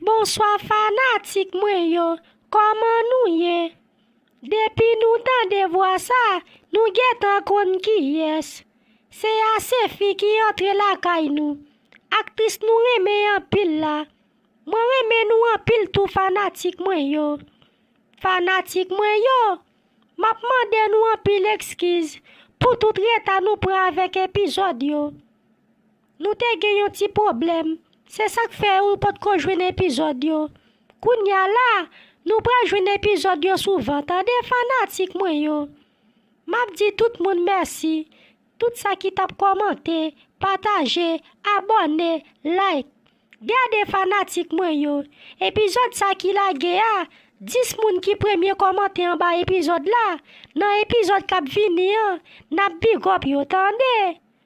Bonswa fanatik mwen yo kòman nou ye depi nou tande vwa sa nou gentan konn kiyès se asefi ki antre lakay nou aktris nou renmen anpil la mwen renmen nou anpil tou fanatik mwen yo fanatik mwen yo map mande nou anpil ekskiz pou tout reta nou pran avèk epizòd yo. Nou te gen yon ti pwoblèm, se sak fè ou pot ko jwenn epizòd yo. Kounya la, nou pral jwenn epizòd yo souvan tande fanatik mwen yo. Map di tout moun mèsi, tout sa ki tap kòmante, pataje, abòne, like. Gade fanatik mwen yo, epizòd sa ki lage a, 10 moun ki premye kòmante anba epizòd la, nan epizòd kap vini an, nap bigòp yo tande.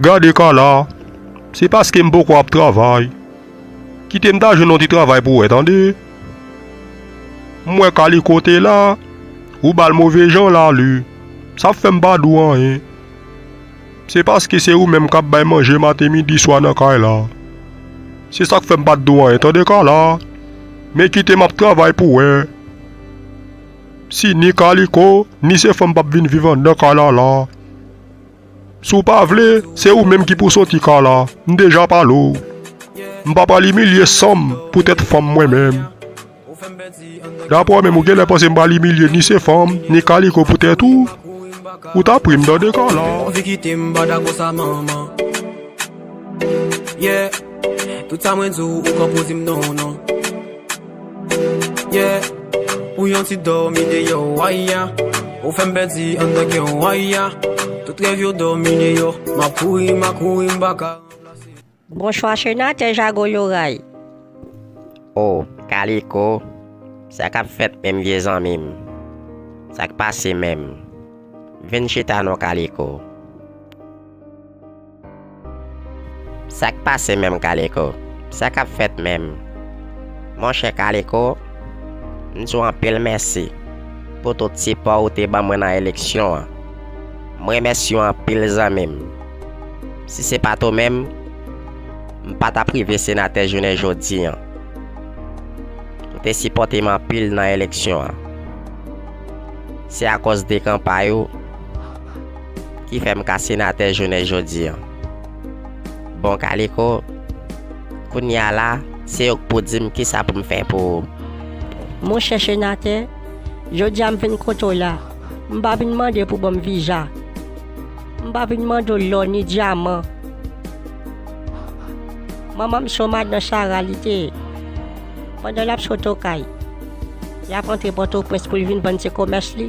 Gade Carla, se paske m poko ap travay. Kite m ta jwenn yon ti travay pou wè tande. M wè Kaliko te la, ou ba l move jan lalu. Sa p fè m pa di w anyen. Se paske se ou menm k ap bay manje maten midi swa nan kay la. Se sa k fè m pa t di w anyen tande Carla. Men kite m ap travay pou wè si ni Kaliko ni Sefom p ap vin viv anndan kay la la. Si w pa vle, se ou menm ki pou soti ka la. M deja pale w. M pa pral imilye san m poutèt fanm mwen menm. Dapre w menm, ou genlè panse m pral imilye ni Sefam, ni Kaliko poutèt ou? Ou ta pri m tande ka la. Yeah Ou yon ti dòmi deyò way ya Ou fèm pèdi anndan kè w way ya Tout rèv yo dòmi deyò Map kouri map kouri m pa ka ranplase Bonswa senatè Jago Loray. Oh kaliko sa kap fèt menm vye zanmim sak pase menm vin chita non kaliko. Sak pase menm Kaliko? Sa kap fèt menm? Monchè Kaliko, m di w anpil mèsi pou tout sipò ou te ban mwen nan eleksyon an. M remèsye w anpil zanmi m. Si se pat ou menm, m pa tap rive senatè jounen jodi an. Ou te sipòte m anpil nan eleksyon an. Se akòz de kanpay ou. Ki fè m ka senatè jounen jodi an. Bon Kaliko, kounye a la, se ou k pou di m kisa pou m fè pou ou. Monchè senatè, jodi a m vin kote w la, m pa vin mande pou w ban m viza, m pa vin mande w lò ni dyaman. Manman m se yon madan sara li te ye. Pandan l ap sot okay, l ap antre Pòtoprens pou l vin vann ti komès li.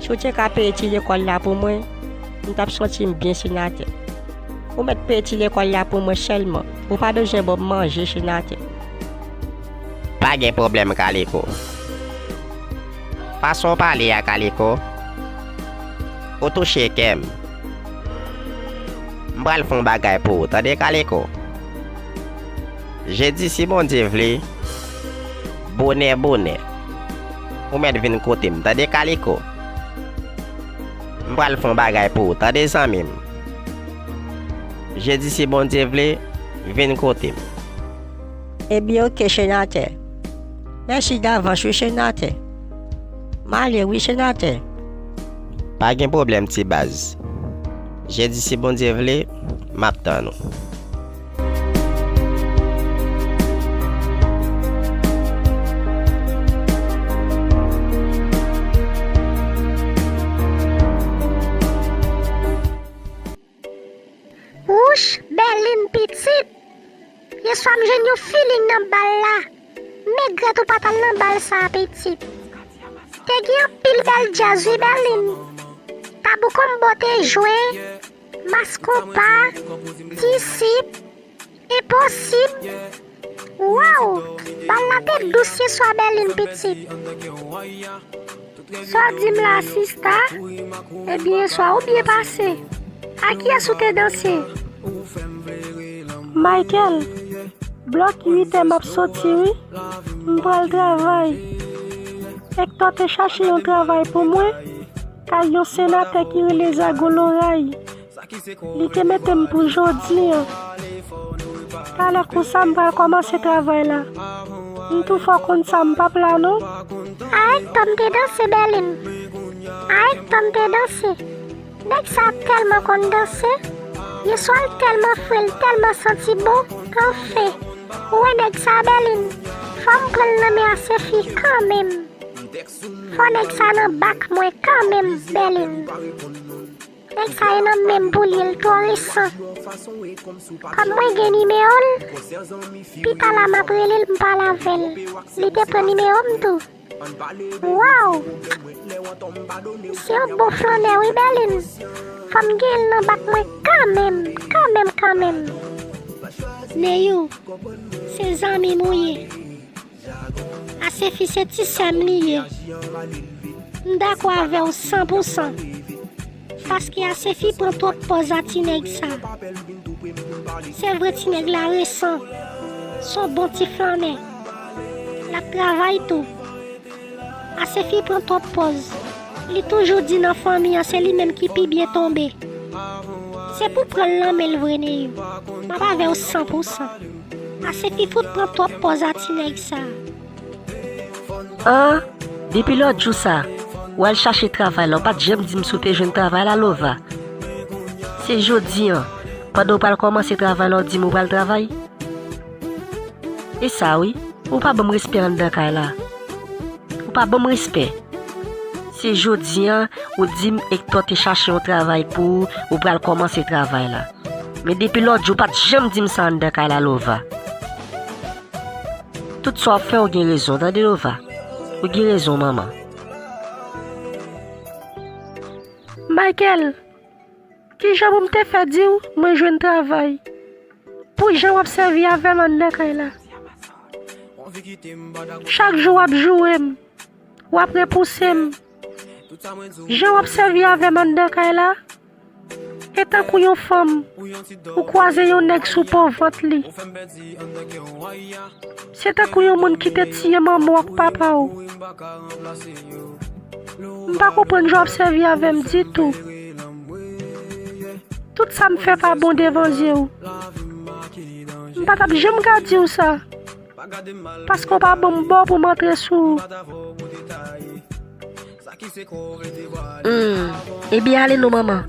Si w te ka peye ti lekòl la pou mwen, m t ap santi m byen senatè. Ou mèt peye ti lekòl la pou mwen sèlman, ou pa bezwen ban m manje senatè. Pa gen pwoblèm Kaliko. Fason w pale a Kaliko, ou touche kè m. M pral fè yon bagay pou ou tande Kaliko. Jedi si Bondye vle, bonè bonè. Ou mèt vin kote m tande kaliko. M pral fon bagay pou ou tande zanmi m. Jedi si Bondye vle vin kote m. Ebyen ok chenatè. Mèsi davans wi chenatè. M ale wi chenatè. Pa gen pwoblèm ti baz. Jedi si Bondye vle map tann ou. Wouch Berline pitit! Yeswa m jwenn yon feeling nan bal la. Megrèt ou pa t al nan bal sa a pitit. Te gen anpil bèl djaz wi Berline. Tabou Combo te jwe. Mas konpa, disip, enposib, waww bal la te dous ye swa Berline pitit. Saw dim la sista, ebyen yeswa ou byen pase, a kiyès ou te danse? Michael, blòk 8 è map soti wi, mpral travay, Hector te chache yon travay pou mwen, Kay yon senatè ki rele zago loray li te metem pou jodi an talè konsa m pral komanse travay la m tou fò konn sa m pap la non. Aek tom te danse bèlem. Aek Tom te danse Nèg sa tèlman konn danse Yeswa l tèlman fre l tèlman santi bon Anfen Ou wè nèg sa bèlin Fò m pran l nan men a se fi kanmenm. Fò nèg sa nan bak mwen kanmenm Berlin Nèg sa e nan menm pou li l twò resan Kòm mwen gen nimewo l Pi ta la map rele l m pale avè l Li te pran nimewo m tou Waww M se yon bon flannè wi Berlin Fò m gen l nan bak mwen kanmenm Kanmenm kanmenm Neyou Se zanmi m ou ye. Asefi se ti sèm li ye. M dakò avèw san pou san. Paske Asefi pran twòp pòz a ti nèg sa. Se vre ti nèg la resan. Son bon ti flannè. Lap travay tou. Asefi pran twòp pòz. Li toujou di nan fanmi an se li menm ki pi byen tonbe. Se pou pranl nan menl vre Neyou. Map avèw san pou san. Ase pi fout pran twòp pòz a ti nèg sa. An, depi lòt jou sa, ou al chache travay la, ou pa t janm di m si w te jwenn travay la, Lova. Se jodi an, pandan w pral kòmanse travay la, w di m ou pral travay? E sa wi, ou pa ban m respè anndan kay la. Ou pa ban m respè. Se jodi an, ou di m Ektò te chache yon travay pou ou, ou pral kòmanse travay la. Men depi lòtjou ou pat janm dim sa anndan kay la Lova Tout sa wap fè ou gen rezon tande Lova Ou gen rezon manman Michael Kijan pou m te fè di w mwen jwenn travay Pou jan wap sèvi avè m anndan kay la Chak jou wap joure m Wap repouse m Jan wap sèvi avè m anndan kay la E tankou yon fanm, ou kwaze yon nèg sou po vant li. Se tankou yon moun ki te tiye manman w ak papa w. M pa konprann jan w ap sèvi avè m ditou. Tout sa m fè pa bon devan zye w. M pa t ap janm ka di w sa, paske w pa ban m bo pou m antre sou ou. Humm ebyen ale non manman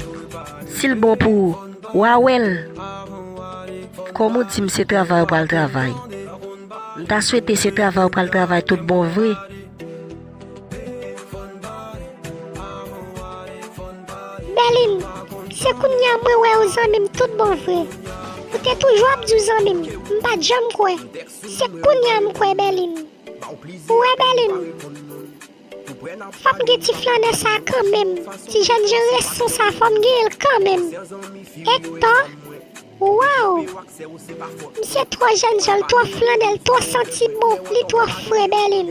sil bon pou ou wa wèl kòm ou dim se travay ou pral travay m ta swete se travay ou pral travay tout bon vre. Berline se kounya mwen wèw zanmim tout bon vre ou te toujou ap diw zanmim m pat janm kwè se kounya m kwè Berline ou wè Berline. Fòm gen ti flannè sa kanmenm ti jèn jan resan sa fòm genyenl kanmenm ektò waw misye twò jèn janl twò flannè l twò santi bon li twò fre bèlin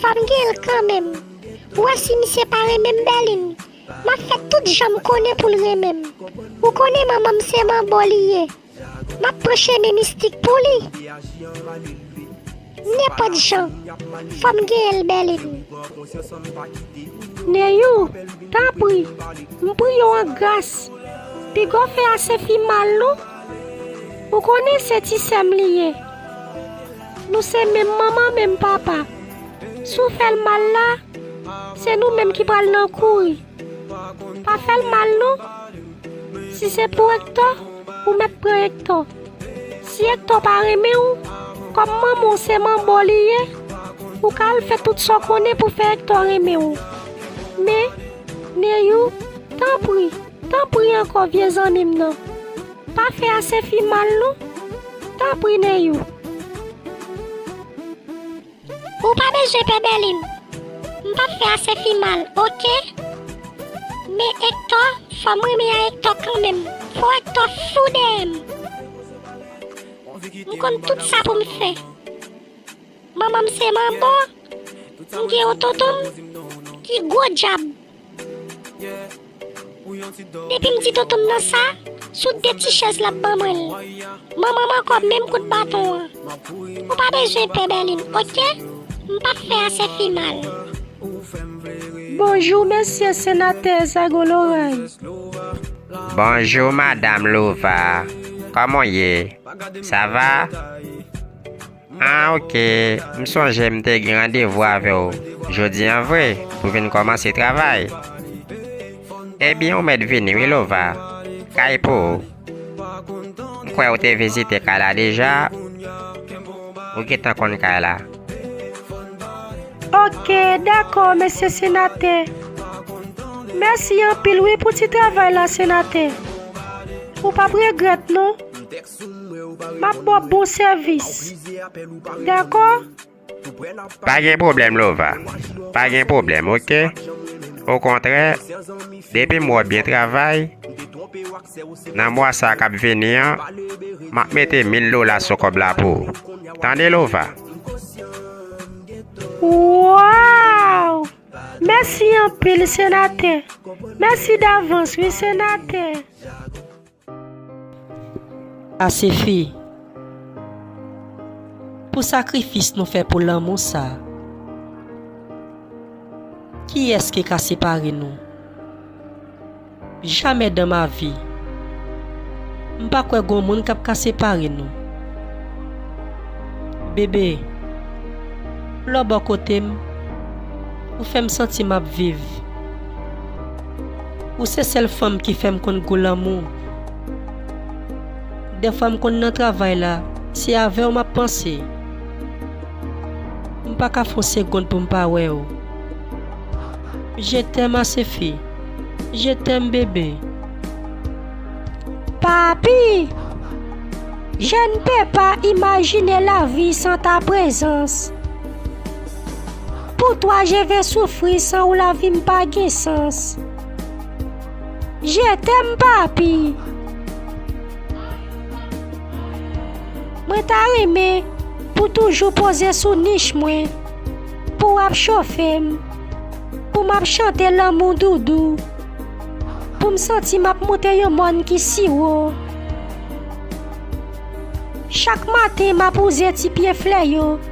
fòm genyenl kanmenm ou wè si misye pa renmenm bèlin map fè tout janm konnen poul renmenm ou konnen manmanm se manbo li ye. Map pran chemen mistik pou li. Nenpòt jan, fòm genyen l Berline. Neyou, tanpri, m priye w an gras, pigaw fè Asefi mal non. Ou konnen se ti sè m li ye. Nou se menm manman menm papa. Si w fè l mal la, se nou menm ki pral nan kouri. Pa fèl mal non. Si se pou Ektò, ou mèt pran Ektò. Si Ektò pa renmen w, kòm manman w se manbo li ye, ou ka al fè tout sa w konnen pou fè Ektò renmen w. Men, Neyou, tanpri, tanpri ankò vye zanmi m nan, pa fè Asefi mal non. Tanpri Neyou. Ou pa bezwen pè Berlin. M pap fè Asefi mal ok. Men Hector fòm renmen a Hector kanmenm. Fò Hector fou dèyè m. M konn tout sa pou m fè. Manman m se manbo. M gen yon tonton m ki gwo djab. Depim di tontonm nan sa, sou 2 ti chèz lap ban mwen l. Manmanm ankò menm kout baton an. Ou pa bezwen pè Berline ok, m pap fè asè fi mal. Bonjour Mesye Senatè Zago Loray. Bonjour Madame Lova, kòman w ye? Sa va? Ah ok, m sonje m te gen randevou avè w jodi an vre pou vin kòmanse travay. Ebyen ou mèt vini wi Lova, kay pou ou. M kwè ou te vizite kay la deja, ou gentan konn kay la. Ok, dakò mesye senatè. Mèsi anpil wi pou ti travay la senatè. Ou pap regrèt non. Map baw bon sèvis dakò. Pa gen pwoblèm lova, pa gen pwoblèm ok, okontrè depim wè w byen travay nan mwa sa kap vini an map mete mil dola sou kòb la pou ou tande lova. Waww mèsi anpil senatè. Mèsi davans wi senatè. Asefi Pou sakrifis nou fè pou lanmou sa Kiyès ki ka separe nou Jamais dans ma vie M pa kwè gon moun kap ka separe nou Bébé Lè w bò kote m Ou fè m santi map viv. Ou se sèl fanm ki fèm konn gou lanmou Dèfwa m konn nan travay la Se avèw map panse M pa ka fon segond pou m pa wèw Je t'aime Asefi Je t'aime bébé Papi Je ne peux pas imaginer la vie sans ta présence Pou twa je ve soufri san ou lavi m pa gen sans Je tèm papi Mwen ta renmen pou toujou poze sou nich mwen Pou w ap chofe m Pou m ap chante lanmou doudou Pou m santi m ap moute yon mòn ki si wo Chak maten m ap wouze ti pye flè yo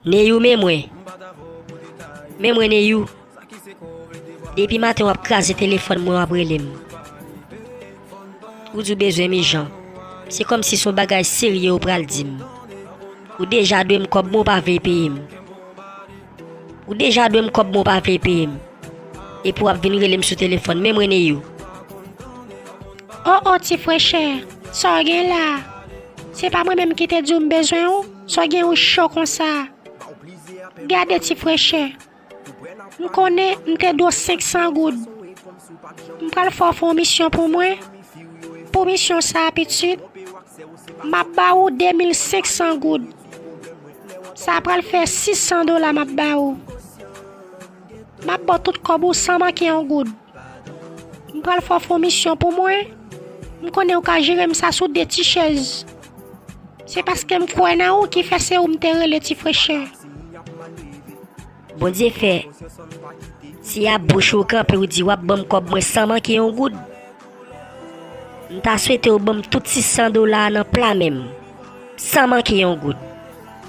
Neyou men mwen Men mwen neyou Depi maten wap kraze telefòn mwen wap relem Ou di ou bezwen m ijan Se kòm si son bagay serye ou pral dim Ou deja dwem kòb mwen ou pa vle peyem Ou deja dwem kòb mwen ou pa vle peyem Epi wap vin relem sou telefòn men mwen neyou Oh oh ti frenchè Sa w gen la Se pa mwen menm ki te di w m bezwen w? Sa gen yon cho konsa. Gade ti frechè. M konnen m te do 500 goud. M pral fè w fè yon misyon pou mwen. Pou misyon sa a pitit, m ap ba ou 2500 goud. Sa pral fè 600 dola m ap ba ou. M ap ba w tout kòb ou san manke yon goud. M pral fè w fè yon misyon pou mwen. M konnen ou ka jere m sa sou de ti chèz. Se paske m kwè nan ou ki fè se ou m te rele ti frechè. Bondye fè, si ap bouch ou kanpe ou di w ap ban m kòb mwen san manke yon goud, m ta swete ou ban m tout 600 dola a nan pla men m, san manke yon goud.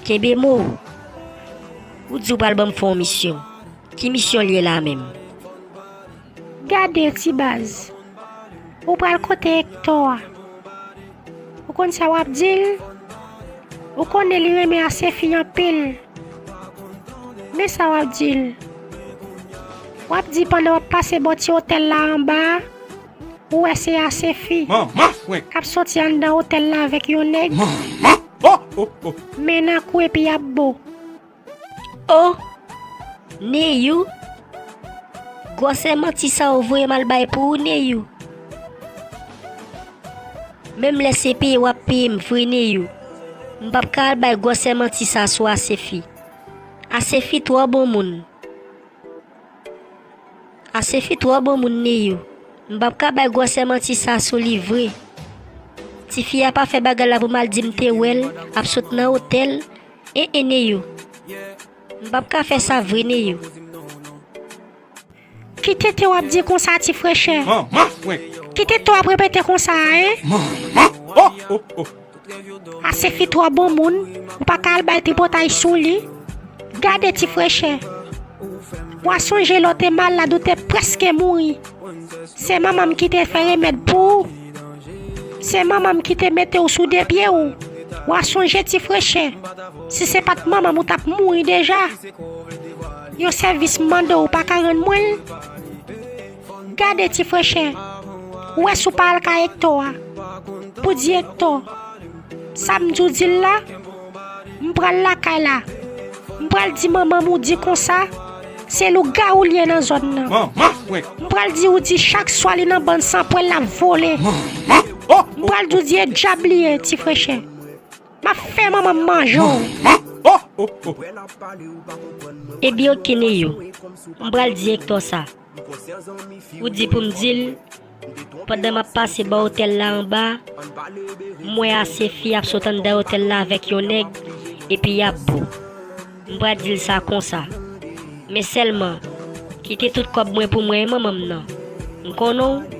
Kenbe mo ou. Ou di ou pral ban m fè yon misyon. Ki misyon liye la menm. Gade ti baz. Ou pral kote Hector a. Ou konn sa wap dil? Ou konnen li renmen Asefi anpil. Men sa wap dil. Wap di pandan wap pase bò ti otèl la anba a, ou wè se Asefi. Manman frenk. Kap soti anndan otèl la avèk yon nèg. Manman. Oh oh oh. Men nan kou epi yap bo. Oh Neyou gwòsè manti sa ou voyem al bay pou ou Neyou Menm lè se peye wap peyem vre Neyou M pap ka al bay gwòsè manti sa sou Asefi Asefi twò bon moun Asefi twò bon moun Neyou M pap ka bay gwòsè manti sa sou li vre Tifi a pa fè bagay la pou mal dim te wèl ap sot nan otèl E e Neyou M pap ka fè sa vre Neyou Ki tenten wap di konsa ti frechè Manman frenk Ki tenten wap repete konsa a e Manman oh oh oh A se fi twò bon moun Ou pa ka al bay tripotay sou li Gade ti frechè Wa sonje lè w te mal la ou te prèske mouri Se manman m ki te fè remèd pou ou. Se manmanm ki te mete w sou de pye w, wa sonje ti frechè. Si se pat manmanm ou tap mouri deja. Yon sèvis m mande w ou pa ka rann mwen l? Gade ti frechè, ou wè si w pa al kay Ektò a pou di Ektò sa m di w di l la? M pral lakay la. M pral di manman m ou di konsa, se lougawou li ye nan zòn nan. M pral di ou di chak swa li nan bann sanpwèl l ap vole. M pral di ou di e dyab li ye, ti frechè. M ap fè manman m manje w. Ebyen ok Neyou, m pral di Ektò sa. Ou di pou m di l, pandan m ap pase bò otèl la anba, m wè ase fi ap sot anndan otèl la avèk yon nèg, epi y ap bo. M pra di l sa konsa. Men sèlman, kite tout kòb mwen pou mwen e manman m nan. M konnen w?